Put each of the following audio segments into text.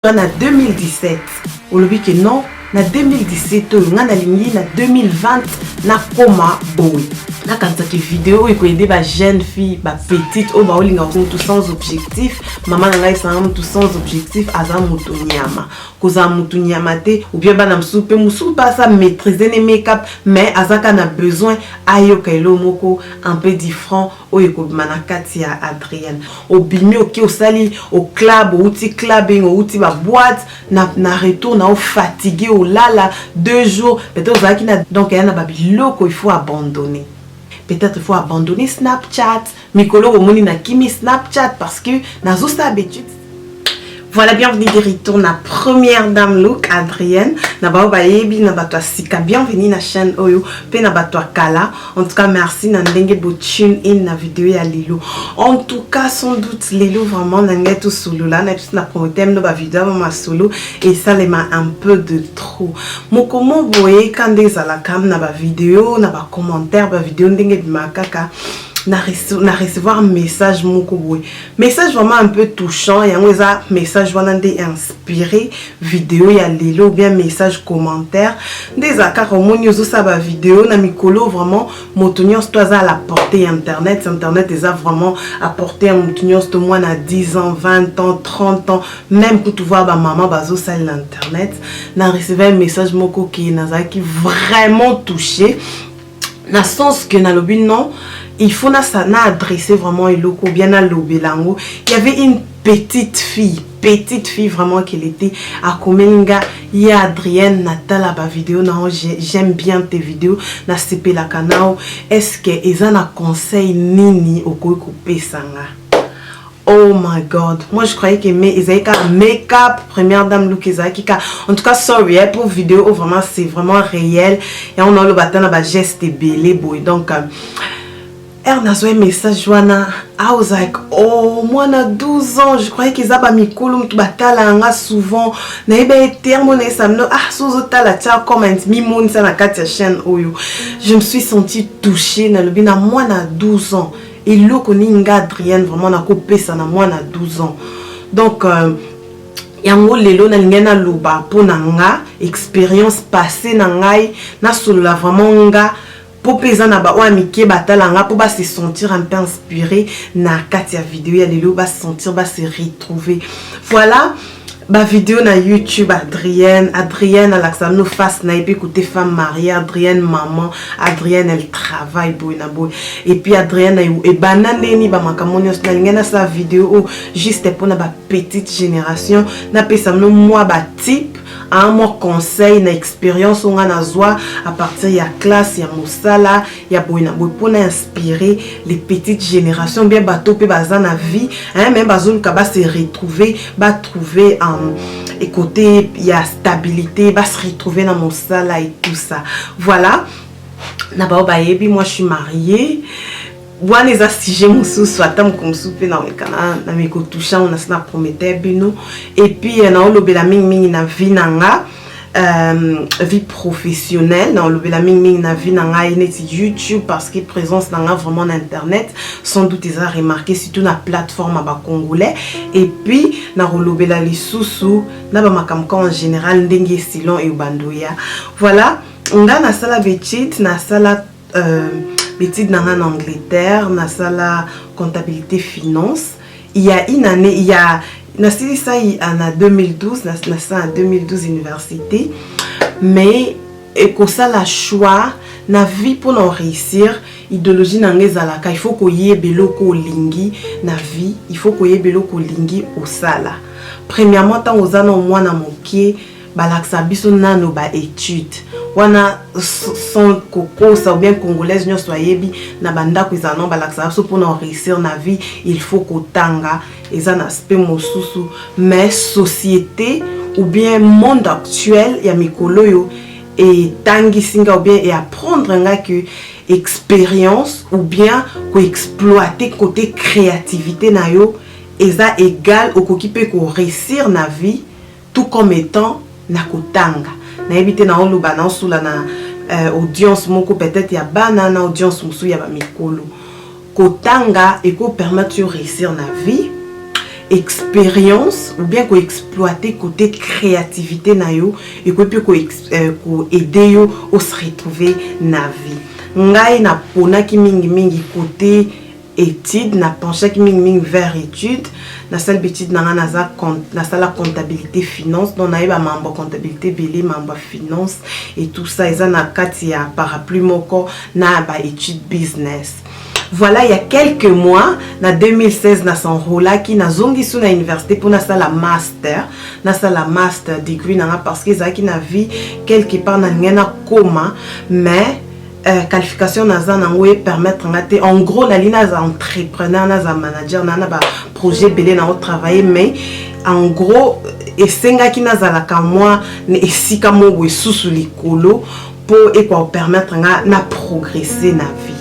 na 2017 olobi ke non na 2017 oyo ngai nalingi na 2020 nakoma boye nakanisaki video oyo ekoyede ba jeune fille ba petite oyo baolinga mutu sans objectif mama na ngai esanga mutu sans objectif aza mutu nyama kozala mutu nyama te oubien bana mosusu mpe mosusu mpe asa maîtrise ne makeup mais azaka na besoin ayoka elo moko un peu different oyo ekobima na kati ya adrienne obimi oke osali oclub outi clubing outi baboite na, na retour na ofatigue olala deux jours peut-être ozalaki na donc eya na babiloko il faut abandonner peut-être il faut abandonner snapchat mikolo omoni na kimi snapchat parce que nazosala betute Voilà, bienvenue de retour na première dame look Adrienne na bao bayebi na bato ya sika bienvenue na chaîne oyo mpe na bato ya kala en tout cas merci na ndenge botune in na video ya lelo en tout cas sans doute lelo vraiment na ngai tosolola na biso na promoteur mino bavideo ya masolo esalema un peu de trop mokomo boye ka nde ezalaka na bavideo na bacommentaire bavideo ndenge ebimaka kaka na recevoir message moko boye Message vraiment un peu touchant yango eza message wana nde inspiré video ya lelo ou bien message commentaire nde eza kaka omoni ozosala ba video na mikolo vraiment moto nyonso to aza à la portée ya internet internet eza vraiment à portée ya moto nyonso to mwana 10 ans 20 ans 30 ans même kutu voir bamama bazosalela internet na recevai message moko ke nazalaki vraiment touché na sens que nalobi non il faut nasa na adresse vraiment eloko bien nalobela yango y avait une petite fille petite fille vraiment qu'elle était akomeli nga ye adrienne natala bavideo nao j'aime bien tes vidéos nasepelaka nao est ce que eza na conseil nini okoki kopesa nga Oh my god, moi je croyais que mais ezalaki kaka make up première dame look ezalaki kaka en tout cas sorry eh, pour vidéo oyo oh, vraiment c'est vraiment réel yango naoloba ata na bageste ebele boye donc euh, ere nazwa message wana i was like oh mwana 12 ans je croyais qu'eza bamikolo motu batalaka nga souvent nayebi ye te yango nayesa mino ah so ozotala tia comment mimonisa na kati ya chaîne oyo je me suis sentie touchée nalobi na mwana 12 ans Eloko ni nga Adrienne vraiment nakopesa na mwana 12 ans. Donc euh, yango lelo nalingai naloba mpo na nga experience passe na ngai nasolola vraiment nga mpo mpe eza na baoyo ya mike batala nga mpo base sentir un peu inspiré na kati ya video ya lelo base sentir base retrouver voilà ba video na youtube adrienne adrienne alakisa no face na ye mpe kote femme marie adrienne maman adrienne elle travaille boye na boye epuis adrienne ebanda ndeni bamakambo nyonso nalingi nasala video oyo juste mpona ba petite génération napesa no mwa batype mwa conseil na expérience oyo ngai nazwa à partir ya classe ya mosala ya boye na boye mpo na inspire les petites générations bien bato mpe baza na vie hein, me bazoluka base retrouver batrouver um, ekote ya stabilité base retrouver na mosala et tout ça voilà na bao bayebi moi je suis mariée wana eza sujet mosusu ata moko mosusu mpe naolekana na mikotouche yango nasi na prometteur bino epuis naolobela mingimingi na vie na nga euh, vie professionnelle na olobela mingi mingi na vie na ngai neti youtube parce que présence na ngai vraiment na internet sans doute eza remarqué surtout na plateforme ya bacongolais et puis na kolobela lisusu na bamakambo ka en général ndenge esilon eyobando ya voilà nga nasala betite nasala euh, betide na ngai na angleterre nasala comptabilité finance il ya une année il ya nasilisaki ah, na 2012 na sala na 2012 université mais ekosala choix na vie mpo na réussir idéologie na ngai ezalaka il faut koyeba eloko olingi na vie il faut koyeba eloko olingi osala premièrement ntango oza na mwana moke balakisa biso nano ba étude wana sans kokosa ou bien congolaise nyonso ayebi na bandako ezala no balakisa biso mpona oreussir na vie il faut kotanga eza na aspect mosusu mais société ou bien monde actuel ya mikolo oyo etangisi nga ou bien eapprendre nga que expérience ou bien koexploite kote créativité na yo eza égal okoki mpe koreusir na vie tout comme etant na kotanga nayebi te nao loba nao sula na euh, audience moko peut-être ya bana na audience mosusu ya ba mikolo kotanga eko permettre yo réussir na vie expérience ou bien ko exploiter côté créativité na yo ekoki mpe ko, euh, ko aider yo o se retrouver na vie ngai naponaki mingimingi kote etude na penchaki mingi mingi vers etude nasali betude na ngai naza nasala comptabilité finance donc nayeba mambo ya comptabilité ebele mambo ya finance et tout ça eza na kati ya parapluie moko na ba étude business voilà il y a quelques mois na 2016 na s'enrolaki nazongisi na université mpo nasala master nasala master degree na nga parce que ezalaki na vie quelque part na ndenge nakoma mais eh, qualification naza nango e permettre nga te en gros nali naza entrepreneur naza manager na na ba projet ebele nango travailler mais en gros esengaki nazalaka mwa na esika moko esusu likolo mpo ekoa permettre nga na progresser na vie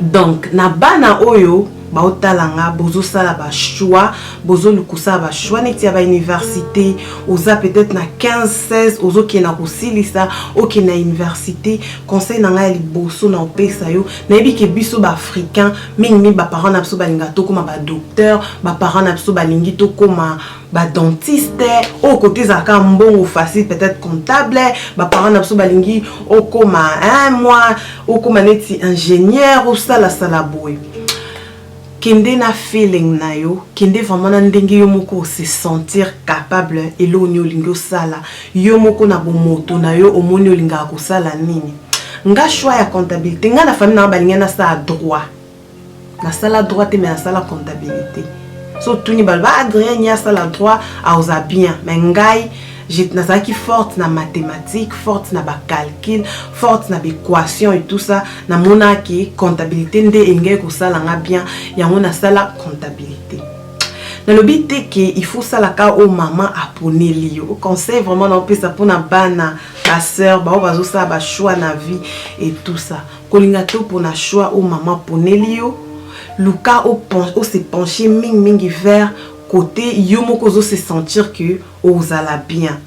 donc na bana oyo Bao tala nga bozo sala ba choix bozo lukusa ba choix neti ya ba universite oza peut-etre na 15 16 ozo kende na kosilisa oke na universite conseil na nga ya liboso na opesa yo na yebi ke biso ba africain mingi mingi ba parents na biso balinga tokoma ba docteur ba parents na biso balingi tokoma ba dentiste oyo kote ezalaka mbongo facile peut-être comptable baparent na biso balingi okoma un mois okoma neti ingénieur osalasala boye kende na feeling na yo kende vraiment na ndenge yo moko ose sentir capable eloko nini olingi osala yo moko na bomoto na yo omoni olingaka kosala nini nga choix ya comptabilité nga na famille na nga balingi nasala droit nasala droit te me nasala comptabilité so tuni balo ba adrien ye asala droit aoza bien me ngai nazalaki forte na mathématique forte na bacalcul forte na baéquation et tout ça namonaki comptabilité nde elingaki kosala nga bien yango nasala comptabilité nalobi te ke il faut salaka oyo mama aponeli yo conseil vraiment naopesa mpona bana basœur baoyo bazosala bachoix na vie et tout ça Kolinga to pona choix oyo mama aponeli yo, luka o se pencher mingi mingi vers cote yo moko ozo se sentir que ozala bien.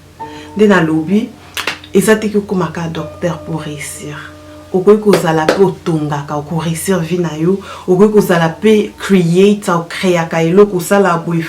Nde nalobi eza te ke okoma kaka docteur po reussir. Okoki kozala pe otongaka, oko reussir vie na yo, okoki kozala pe creator, o creaka eloko, osala boye,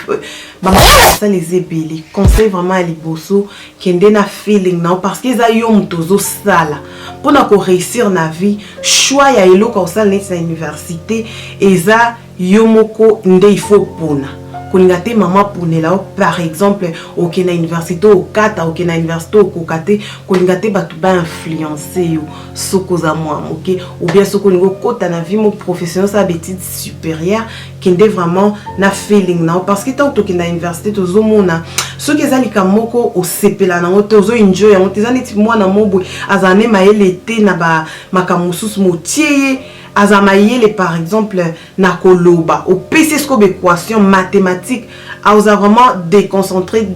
ba makambo ya kosala eza ebele. Conseil vraiment ya liboso kende na feeling na yo parce que eza yo moto ozosala mpo na koreusir na vie choix ya eloko ya kosala neti na université eza yo moko nde ifo opona kolinga te mama aponela yo par exemple oke na université okata oke na université okoka te kolinga te bato bainfluence yo soki oza mwa moke obia soki olingi okota na vie mo professionnel osala betide supérieure kende vraiment na feeling nao parce que ntango tokenda université tozomona soki eza likambo moko osepela nango te ozo enjoy yango te eza neti mwana mobwe azala ne mayele te na bamakambo mosusu motie ye aza mayele par exemple na koloba opesi esiko baequation mathématique aoza vraiment déconcentré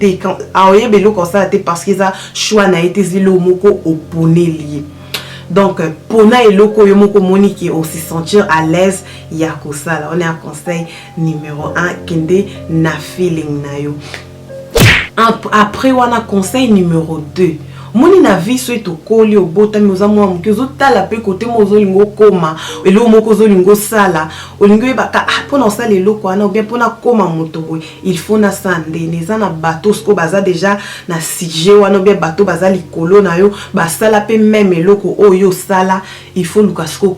aoyeba eloko asala te parce que eza choix na ye te ezali eloko moko oponeli ye donc pona eloko yo moko omoni ke osi sentir à l'aise ya kosala on est un conseil numéro 1 kende na feeling na yo après wana conseil numéro 2 moni na vie soki tokoli obotami oza mwa moke ozotala mpe kote moko ozolinga okoma eloko moko ozolinga osala olingi oyebaka ah, mpona osala eloko wana obien mpona koma moto boye il faut na sandene eza na bato oyo baza deja na sujet wana obia bato baza likolo na yo basala mpe meme eloko oyo yo osala il faut luka siko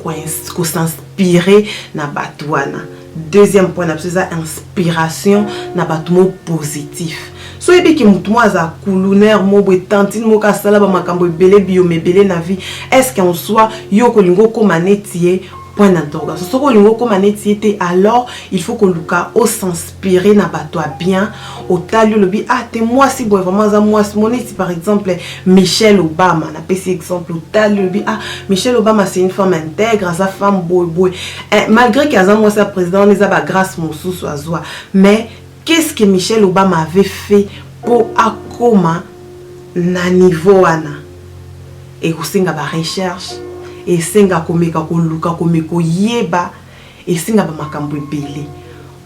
kosinspire na bato wana deuxième point na biso eza inspiration na bato mo positif so oyebiki motu moko aza kulunaire moko boye tantine moko asala bamakambo ebele biyoma ebele na vie est ce que en soi yo okolinga okóma neti ye point d'interrogation soki olingi okoma neti ye te alors il faut koluka osinspire na bato ya bien otali olobi ah te mwasi boye vraiment aza mwasi mo neti par exemple michelle obama napesi exemple otali olobi ah michelle obama c'est une femme intègre aza femme boye boye eh, malgré ke aza mwasi ya président wana eza bagrâce mosusu azwa mais Qu'est-ce que Michelle Obama avait fait po akoma na niveau wana? Ekosenga ba recherches, esenga komeka koluka kome koyeba, esenga ba makambo ebele.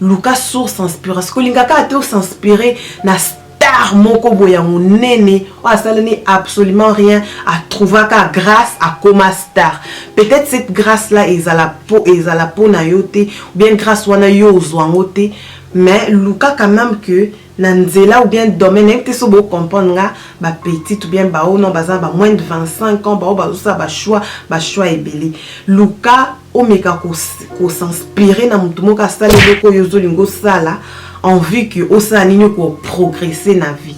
Luka source inspiration. Kolinga kaka te o s'inspirer na star moko boye ya monene oyo asaleli absolument rien a trouva ka grâce akoma star peut-être cette grâce là ezala po ezala po na yo te ou bien grâce wana yo ozwa yango te Mais luka quand meme que na nzela ou bien domaine nayebi te so bo comprendre nga ba petite ou bien ba oyo non baza na ba moins de 25 ans ba oyo bazosala ba choix ba choix ebele luka omeka ko ko s'inspirer na moto moko asala eloko oyo ozolinga osala en vue que osala nini ko progresser na vie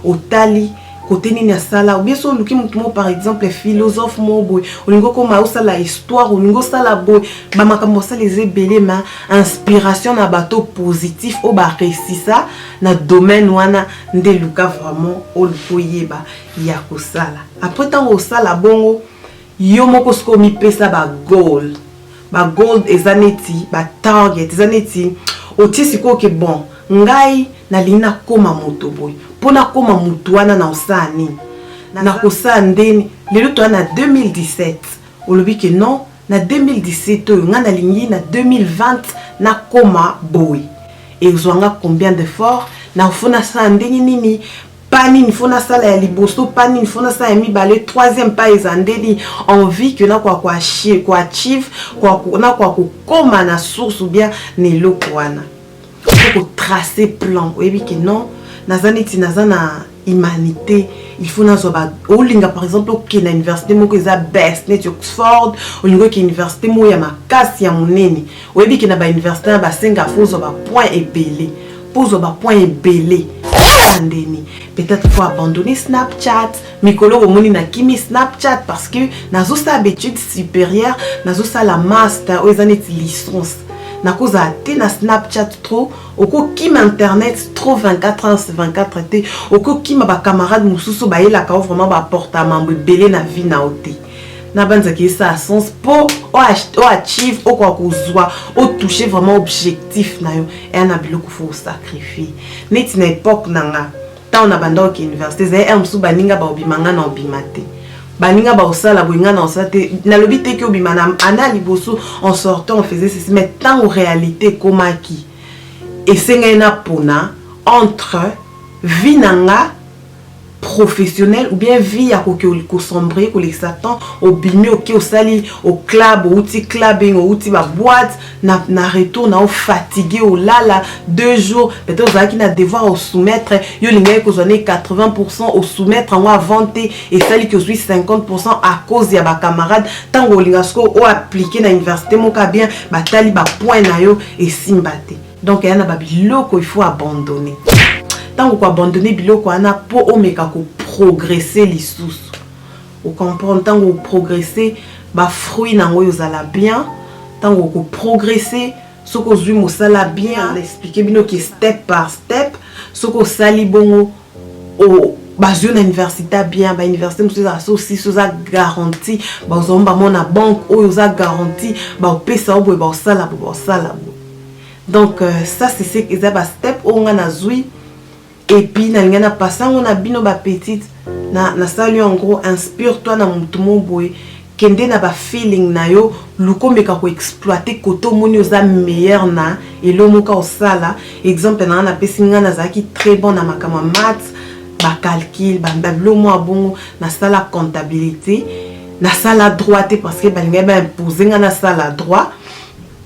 otali kote nini asala obie so oluki motu moko par exemple philosophe moko boye olingi okoma osala histoire olingi osala boye bamakambo osala eza ebele ma inspiration na bato positif oyo baresisa na domaine wana nde luka vraiment oluki oyeba ya kosala apres ntango osala bongo Yo moko sikoyo mipesa ba goal. Ba goal eza neti ba target, eza neti otie sikoyo ke bon ngai nalingi nakoma moto boye. Mpo nakoma moto wana nakosala nini? Nakosala ndeni? Lelo toza na 2017 olobi ke non na 2017 oyo ngai nalingi na 2020 nakoma boye. Ekozwa ngai combien d'effort? Nafo nasala ndenge nini pas nini fo nasala ya liboso pas nini fo nasala ya mibale troisième pas eza nde nini envie que nakoka koachieve nakoka kokoma na source ou bien na eloko wana kotrace plan oyebi ke non naza neti naza na humanité il faut nazwa ba olinga par exemple okende na université moko eza best neti oxford olingi oke université moko ya makasi ya monene Oyebi ke na ba universite na ba senga faut ozwa ba points ebele po ozwa ba points ebele andeni peut-être faut abandonner Snapchat mikolo omoni na kimi Snapchat parce que nazosala baetude supérieure nazosala master oyo eza neti licence nakozala te na snapchat trop okokima internet trop 24 heures 24 te okokima bacamarade mosusu bayelaka o vraiment baporta mambo ebele na vie na yo te nabanzaki esa sens mpo oachieve okoka kozwa otouche vraiment objectif na yo eya na biloko fo osacrifie neti na epoque na nga ntango na banda oke université ezali ere mosusu baninga baobima nga na obima te baninga baosala boye nga na osala te nalobi te ke obima na ana liboso en sortant on faisait ceci mais ntango réalité ekomaki esengeli napona entre vie na nga professionnel ou bien vie ya koki kosombre kolekisa temps obimi oke osali au club outi clubbing outi ba boîte na, na retour na ofatigue olala deux jours peut-être ozalaki na devoir osoumettre yo olingaki kozwa ne 80 pourcent osoumettre yango avant te esali ki ozwi 50 pourcent à cause ya bacamarade ntango olinga sikoyo oaplike na université moka bien batali bapoint na yo esimba te Donc yana ba biloko il faut abandonner. Tango ko abandonner biloko wana po omeka ko progresser lisusu. O comprendre tango o progresser ba fruits nango ezala bien, tango ko progresser soki ozui mosala bien, na expliquer bino ke step par step soki osali bongo bazwi na université bien bauniversité mosusu ezala so sisi oza garanti bazwamo bango na banque oyo oza garanti bakopesa yo boye bakosala bo bakosala bo donc euh, ça sese eza bastep oyo ngai nazwi epuis nalingai na pasa yango na bino bapetite nasali yango inspire toi na motu mo boye Kende na ba feeling na yo luka omeka ko exploiter cote omoni oza meilleur na elo moka osala exemple na nga na pesi nga na zalaki très bon na makambo ya maths ba calcul ba bilo mua bongo na sala comptabilite na sala droit te parce que ba lingaki ba imposer nga na sala droit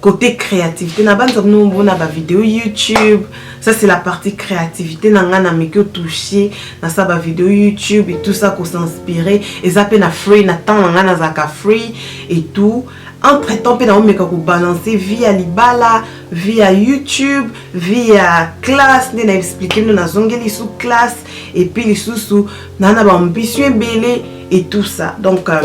Côté créativité, na banza bino mona ba vidéo YouTube. Ça c'est la partie créativité na nga na meki touché na sa ba vidéo YouTube et tout ça ko s'inspirer et ça pe na free na temps na nga na zaka free et tout. Entre temps pe na omeka ko balancer via libala, via YouTube, via classe nde na expliquer nous na zongeli sous classe et puis lisusu na na ba ambition belé et tout ça. Donc euh,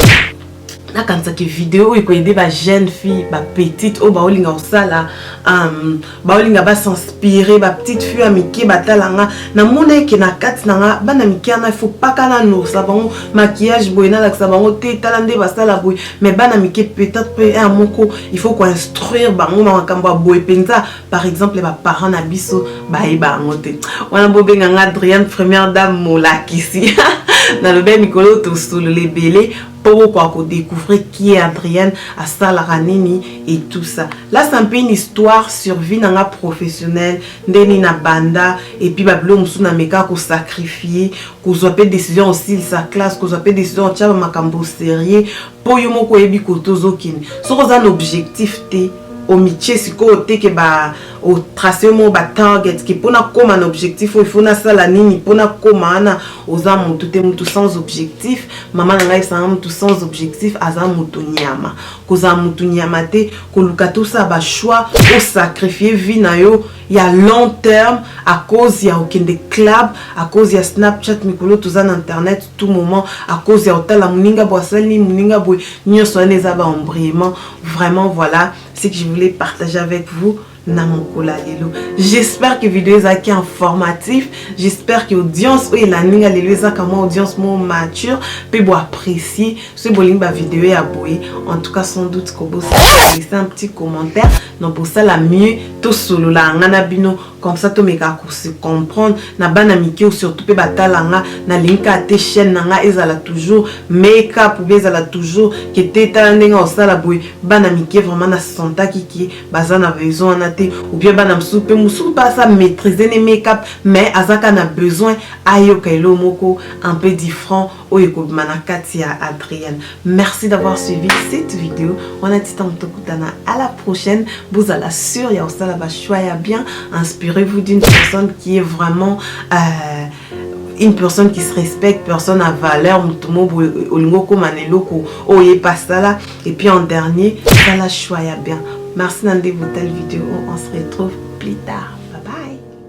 nakanisaki video oyo ekoyede ba jeune fille ba petite oyo baolinga kosala um, baolinga basinspire ba petite fille ya mike batala nga namona eke na kati na nga bana mike wana ifo paka nanokisa bango maquillage boye nalakisa bango te tala nde basala boye mais bana mike peut-être pe ya moko ifo koinstruire bango na makambo ya boye mpenza par exemple ba parents na biso bayeba yango te wana bobenga nga adrienne première dame molakisi nalobi ya mikolo tosolola ebele mpo bokoka kodécouvrir qui est adrienne asalaka nini et tout ça là c'est un peu une histoire sur vie na nga professionnelle nde nini na banda epuis babilo mosusu na meka kosacrifie kozwa mpe décision osilisa classe kozwa mpe décision otya bamakambo sérieux Po yo moko oyebi kote ozo kende. Soki oza na objectif te, omitie sikoyo te ke ba o tracer yo moko ba targets ke po na koma na objectif oyo il faut nasala nini po na koma wana. Oza mutu te, mutu sans objectif. Mama na ngai ayebisa ngai mutu sans objectif aza mutu nyama. Kozala mutu nyama te, koluka te osala ba choix, o sacrifier vie na yo. ya long terme à cause ya okende club à cause ya snapchat mikolo toza na internet tout moment à cause ya otala moninga boye asali nini moninga boye nyonso wana eza ba embrayement vraiment voilà ce que je voulais partager avec vous na mokolo ya lelo j'espère que video ezalaki informatif j'espère que audience oyo elandi nga lelo ezaka mwa audience mo mature mpe boapprécie soki bolingi bavideo ya boye en tout cas sans doute kobosana laisse un petit commentaire Donc bosala mieux tosolola nga na bino comme ça tomeka ko se comprendre na bana mike ou surtout pe batala nga nalingi kaka te chaîne na nga ezala toujours make up ou bien ezala toujours ke te tala ndenge osala boye bana mike vraiment na sentaki ke baza na besoin wana te ou bien bana mosusu pe mosusu mpe asa maîtrise ne make up mais azaka na besoin ayoka elo moko un peu different oyo ekobima na kati ya adrienne merci d'avoir suivi cette vidéo wana titango tokutana à la prochaine bozala sur ya kosala bachoix ya bien inspirez vous d'une personne qui est vraiment euh, une personne qui se respecte personne à valeur moto mobo olingi okoma na eloko oyo ye pasala et puis en dernier sala choix ya bien merci na nde botali vidéo on se retrouve plus tard